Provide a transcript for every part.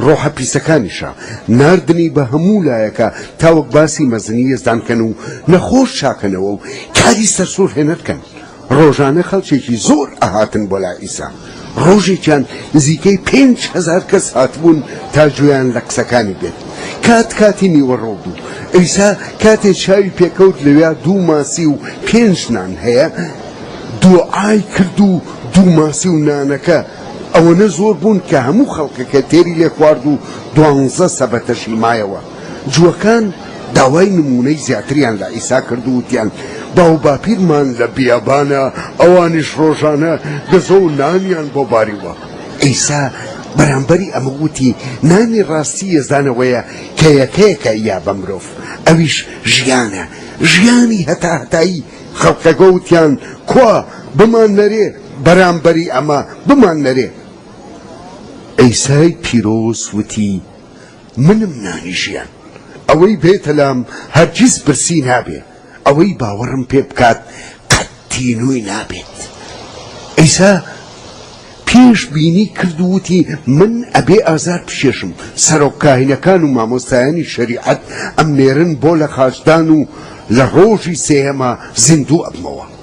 ڕۆحە پیسەکانیشە ناردنی بە هەموو لایەکە تاوەک باسی مەزنی یەزدان کەن و نەخۆش چاکەنەوە و کاری سەرسوور هێنەرکەن ڕۆژانە خەڵکێکی زۆر ئەهاتن بۆ لا ئیسا ڕۆژێکیان نزیکەی پێنج هزار کەس هاتبوون تا گوێیان لە قسەکانی بێت کات کاتی نیوەڕۆ بوو ئەیسا کاتێ چاوی پێکەوت لەوێ دوو ماسی و پێنج نان هەیە دوعای کرد و دوو ماسی و نانەکە ئەوەنە زۆر بوون کە هەموو خەڵکەکە تێری لێ خوارد و دوانزە سەبەتەشی مایەوە. جووەکان داوای نموونەی زیاتریان لە عیسا کرد و وتیان، باوباپیرمان لە بیابانە، ئەوانیش ڕۆژانە گەزۆ و نانیان بۆ باریوە. عیسا بەرامبەری ئەمە وتی، نانی ڕاستی یەزدان ئەوەیە کە یەکەیەکە یا بە مرۆڤ، ئەویش ژیانە، ژیانی هەتاهەتایی. خەڵکەکە وتیان، کوا، بماننەرێ. بەرامبەری ئەمە بماننەرێ. عیسای پیرۆز وتی، منم نانی ژیان، ئەوەی بێتە لام هەرگیز برسی نابێ، ئەوەی باوەڕم پێ بکات قەت تینووی نابێت. عیسا پێش بینی کرد و وتی، من ئەبێ ئازار بچێژم، سەرۆک کاهینەکان و مامۆستایانی شەریعەت ئەمنێرن بۆ لەخاچدان و لە ڕۆژی سێیەما زیندوو ئەبمەوە.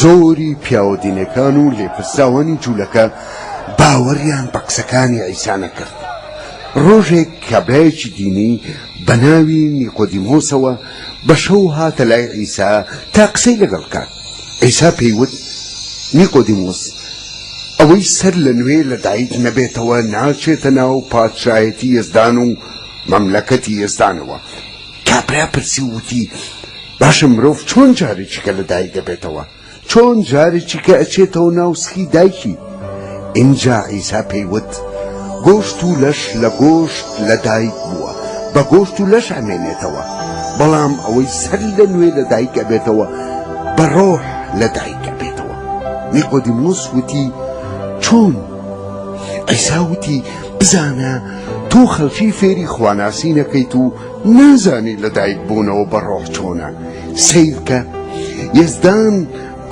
زۆری پیاوە دینەکان و لێپرسراوانی جوولەکە باوەڕیان بە قسەکانی عیسا نەکرد. ڕۆژێک کابرایەکی دینی بە ناوی نیقۆدیمۆسەوە بە شەو هاتە لای عیسا تا قسەی لەگەڵ بکات. عیسا پێی وت، نیقۆدیمۆس، ئەوەی سەر لە نوێ لە دایک نەبێتەوە ناچێتە ناو پادشایەتی یەزدان و مەملەکەتی یەزدانەوە. کابرا پرسی و وتی، باشە مرۆڤ چۆن جارێکیکە لە دایک دەبێتەوە؟ چۆن جارێکیکە ئەچێتەوە ناو سکی دایکی؟ ئینجا عیسا پێی وت، گۆشت و لەش لە گۆشت لە دایک بووە، بە گۆشت و لەش ئەمێنێتەوە، بەڵام ئەوەی سەر لە نوێ لە دایک ئەبێتەوە، بە ڕۆح لە دایک ئەبێتەوە. نیقۆدیمۆس وتی، چۆن؟ عیسا وتی، بزانە، تۆ خەڵکی فێری خواناسین ئەکەیت و نازانی لە دایک بونەوە بە ڕۆح چۆنە سەیرکە یەزدان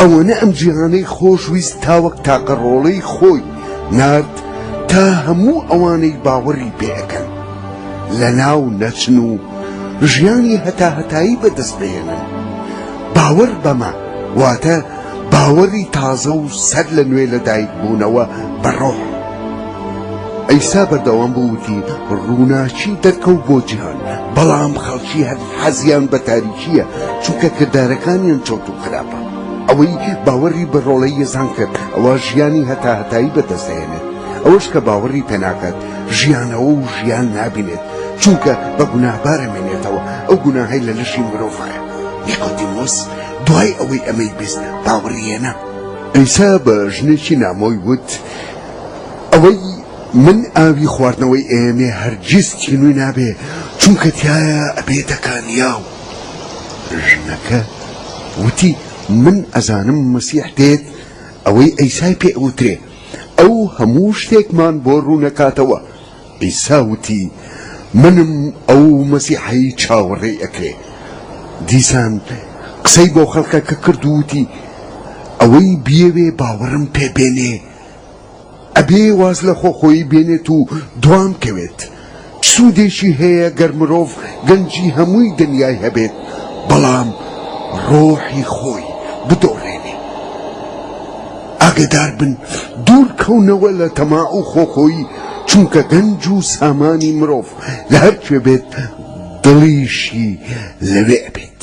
ئەوەنە ئەم جیهانەی خۆش ویست تاوەک تاقە ڕۆڵەی خۆی نارد تا هەموو ئەوانەی باوەڕی پێەکەن لە ناو نەچن و ژیانی هەتا هەتایی بەدەست بێنن باوەڕ بەمە واتە باوەڕی تازە و سەر لە نوێ لە دایک بوونەوە بە ڕۆح عیسا بەردەوام بوو وتی، ڕووناکی دەرکەوت بۆ جیهان، بەڵام خەڵکی هەر حەزیان بە تاریکییە، چونکە کردارەکانیان چەوت و خراپە. ئەوەی باوەڕی بە ڕۆڵەی یەزان کرد، ئەوا ژیانی هەتاهەتایی بەدەست دەهێنێت، ئەوەش کە باوەڕی پێ ناکات، ژیانەوە و ژیان نابینێت، چونکە بە گوناهبار ئەمێنێتەوە، ئەو گوناهەی لە لەشی مرۆڤایە. نیقۆدیمۆس دوای ئەوەی ئەمەی بیست، باوەڕی هێنا. عیسا بە ژنێکی نامۆی وت، ئەوەی من ئاوی خواردنەوەی ئێمێ هەرگیز تینوی نابێ چونکە تایە ئەبێتە کانیاو ژنەکە وتی من ئەزانم مەسیح دێت ئەوەی ئەیسای پێ ئەوترێ ئەو هەموو شتێکمان بۆ ڕوونەکاتەوە عیسا وتی منم ئەو مەسیحەی چاوەڕێی ئەکرێ. دیسان قسەی بۆ خەڵکەکە کرد و وتی ئەوەی بیەوێ باوەڕم پێ بێنێ ئەبێ واز لە خۆ خۆیی بێنێت و دوام کەوێت. چ سوودێکی هەیە گەر مرۆڤ گەنجی هەمووی دنیای هەبێت بەڵام ڕۆحی خۆی بدۆڕێنێ؟ ئاگەدار بن دوور کەونەوە لە تەماع و خۆخۆیی چونکە گەنج و سامانی مرۆڤ لە هەر کوێ بێت دڵیشی لەوێ ئەبێت.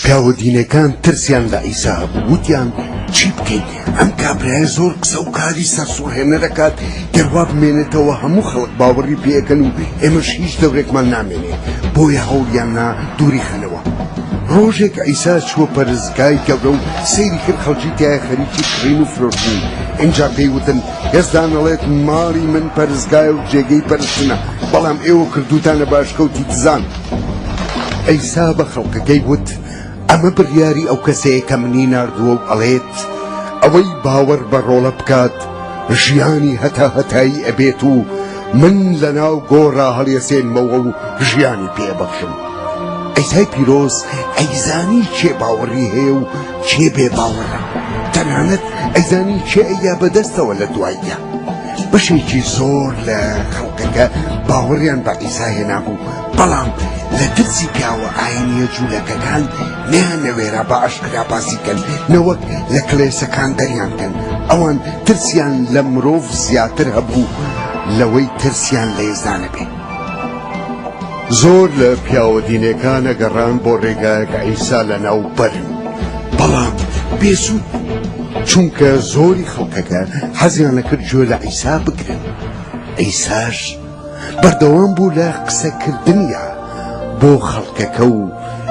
پیاوە دینەکان ترسیان لە عیسا هەبوو وتیان چی بکەین ئەم کابرایە زۆر قسە و کاری سەرسوڕهێنەر دەکات گەر وا بمێنێتەوە هەموو خەڵک باوەڕی پێەکەن و ئێمەش هیچ دەورێکمان نامێنێ بۆیە هەوڵیان نا دووری خەنەوە ڕۆژێک عیسا چووە پەرز گای گەورە و سەیری کرد خەڵکی تایە خەریکی کڕین و فرۆشتن ئینجا پێی وتن هێزدان ئەڵێت ماڵی من پەرستگایە و جێگەی پەرستنە بەڵام ئێوە کردوتانە باشکەوتی دزان ئەیسا بە خەڵکەکەی وت ئەمە بڕیاری ئەو کەسەیە کە منی ناردووە و ئەڵێت ئەوەی باوەڕ بە ڕۆڵە بکات ژیانی هەتا هەتایی ئەبێت و من لە ناو گۆڕا هەڵێسێنمەوە و ژیانی پێبەخشم. عیسای پیرۆز ئەیزانی کێ باوەڕی هەیە و کێ بێ باوەڕە تەنانەت ئەیزانی کێ ئەیا بەدەستەوە لە دواییە بەشێکی زۆر لە خەڵکەکە باوەڕیان بە عیسا هێنابوو بەڵام لە ترسی پیاوە ئاینیە جوولەکەکان نیان نەوێرا بە ئەشکرا باسیکەن نەوەک لە کلێسەکان دەریانکەن ئەوان ترسیان لە مرۆڤ زیاتر هەبوو لەوەی ترسیان لە ئێزانە بێت. زۆر لە پیاوە دینێکان ئەگەڕان بۆ ڕێگایەک عیسا لە ناو بەرن بەڵام بێسوود چونکە زۆری خەڵکەکە حەزیان لەکرد گوێ لە عیسا بگرن عیساش بەردەوام بوو لە قسەکردنیا بۆ خەڵکەکە و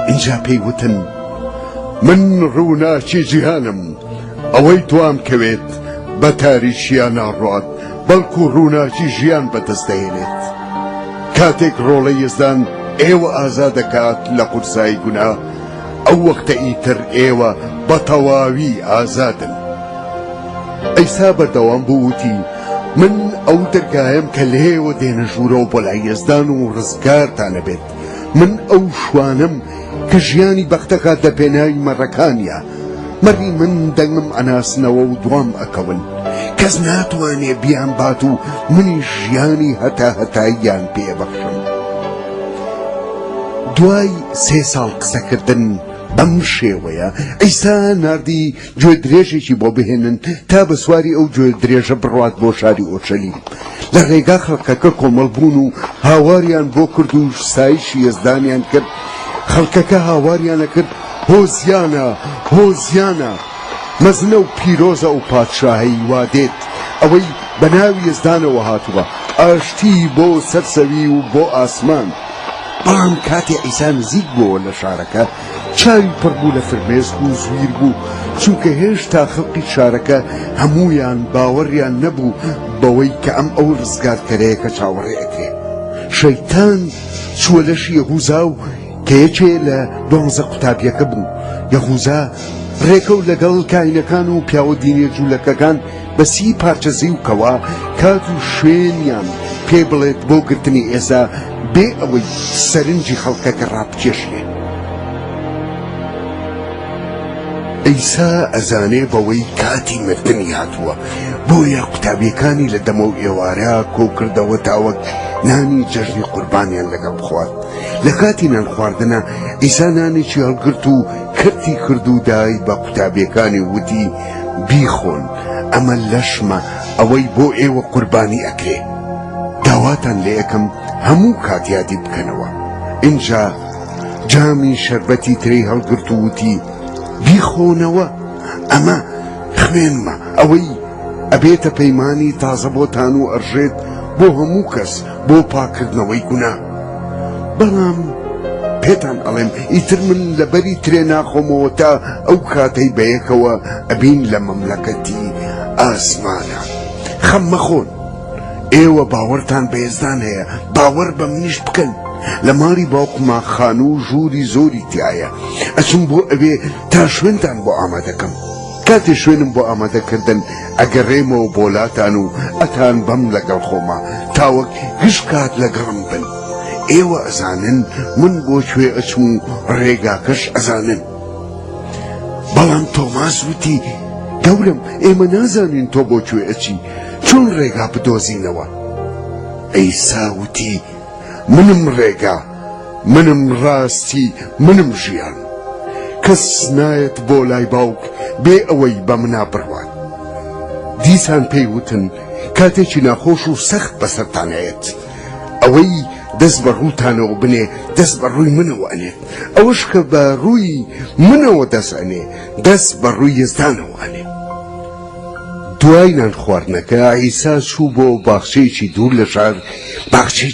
اینجا پێی وتن من ڕووناکی جیهانم ئەوەی دوام کەوێت بە تاریشیان ناڕات بەڵکو ڕووناکی ژیان بەدەست دەهێنێت. کاتێک ڕۆڵەی یەزدان ئێوە ئازا دەکات لە قورسایی گوناه، ئەو وەختە ئیتر ئێوە بە تەواوی ئازادن. عیسا بەردەوام بوو وتی، من ئەو دەرگایەم کە لێیەوە دێنە ژوورەوە بۆ لای یەزدان و ڕزگارتان ئەبێت. من ئەو شوانەم کە ژیانی بەختەکات لە پێناوی مەڕەکانیا مەڕی من دەنگم ئەناسنەوە و دوام ئەکەون کەس ناتوانێ بیان بات و منی ژیانی هەتا هەتاییان پێبەخشم دوای سێ ساڵ قسەکردن بەم شێوەیە ئەیسا نردی گوێ درێژێکی بۆ بهێنن تا بە سواری ئەو گوێ درێژە بڕوات بۆ شاری ئۆرشەلیم. لە ڕێگا خەڵکەکە کۆمەڵ بوون و هاواریان بۆ کرد و ستایشی یەزدانیان کرد، خەڵکەکە هاواریان ئەکرد، هۆزیانە، هۆزیانە! مەزنە و پیرۆزە ئەو پادشاهەی وا دێت، ئەوەی بە ناوی یەزدانەوە هاتووە، ئاشتی بۆ سەر زەوی و بۆ ئاسمان! بەڵام کاتێ عیسا نزیک بووەوە لە شارەکە، چاوی پڕ بوو لە فرمێسک و زویر بوو، چونکە هێشتا خەڵکی شارەکە هەموویان باوەڕیان نەبوو بەوەی کە ئەم ئەو ڕزگارکەرەیە کە چاوەڕێ ئەکرێ. شەیتان چووە لەش یەهوزا و کە یەکێ لە دوانزە قوتابیەکە بوو، یەهوزا ڕێکەوت لەگەڵ کاهینەکان و پیاوە دینیە جوولەکەکان، بە سی پارچە زیو کەوە کات و شوێنیان پێ بڵێت بۆ گرتنی ئێزا بێ ئەوەی سەرنجی خەڵکەکە ڕابکێشێ ئەیسا ئەزانێ بەوەی کاتی مردنی هاتووە بۆیە قوتابیەکانی لە دەمە و ئێوارە کۆکردەوە تاوەک نانی جەژنی قوربانیان لەگەڵ بخوارد لە کاتی نان خواردنە ئیسا نانێکی هەڵگرت و کەرتی کرد و دای بە قوتابیەکانی وتی بیخۆن ئەمە لەشمە ئەوەی بۆ ئێوە قوربانی ئەکرێ داواتان لێ ئەکەم هەموو کات یادی بکەنەوە ئینجا جامی شەربەتی ترێی هەڵگرت و وتی بیخۆنەوە ئەمە خوێنمە ئەوەی ئەبێتە پەیمانی تازە بۆتان و ئەڕژێت بۆ هەموو کەس بۆ پاکردنەوەی گوناه بەڵام پێتان ئەڵێم ئیتر من لەبەری ترێ ناخۆمەوە تا ئەو کاتەی بەیەکەوە ئەبین لە مەملەکەتی ئاسمانە خەم مەخۆن ئێوە باوەرتان بەێزدان هەیە باوەڕ بە منیش بکەن لە ماری باوقما خان و ژووری زۆری تایە ئەچم بۆ ئەوێ تا شوێنتان بۆ ئامادەکەم. کاتێ شوێنم بۆ ئامادە کردن ئەگەرێمەوە بۆلاتان و ئەتان بەم لەگەڵ خۆما تاوەک گشت کات لەگەڵم بن ئێوە ئەزانن من بۆ کوێ ئەچم و ڕێگاکەش ئەزانن بەڵام تۆماس وتی گەورم ئێمە نازانین تۆ بۆ کوێ ئەچی چۆن ڕێگا بدۆزینەوە ئەیسا وتی منم ڕێگا منم ڕاستی منم ژیان کەس نایەت بۆ لای باوک بێ ئەوەی بە منا بڕوات دیسان پێی وتن کاتێکی ناخۆش و سەخت بەسەرتانەیەت ئەوەی دەست بە ڕووتانەوە بنێ دەست بە ڕووی منەوە ئەنێ ئەوش کە بە ڕووی منەوە دەست ئەنێ دەست بە ڕووی یزدانەوە ئەنێ دوای نان خواردنەکە عیسا چوو بۆ باخچەیەکی دوور لە شار، باخچەی.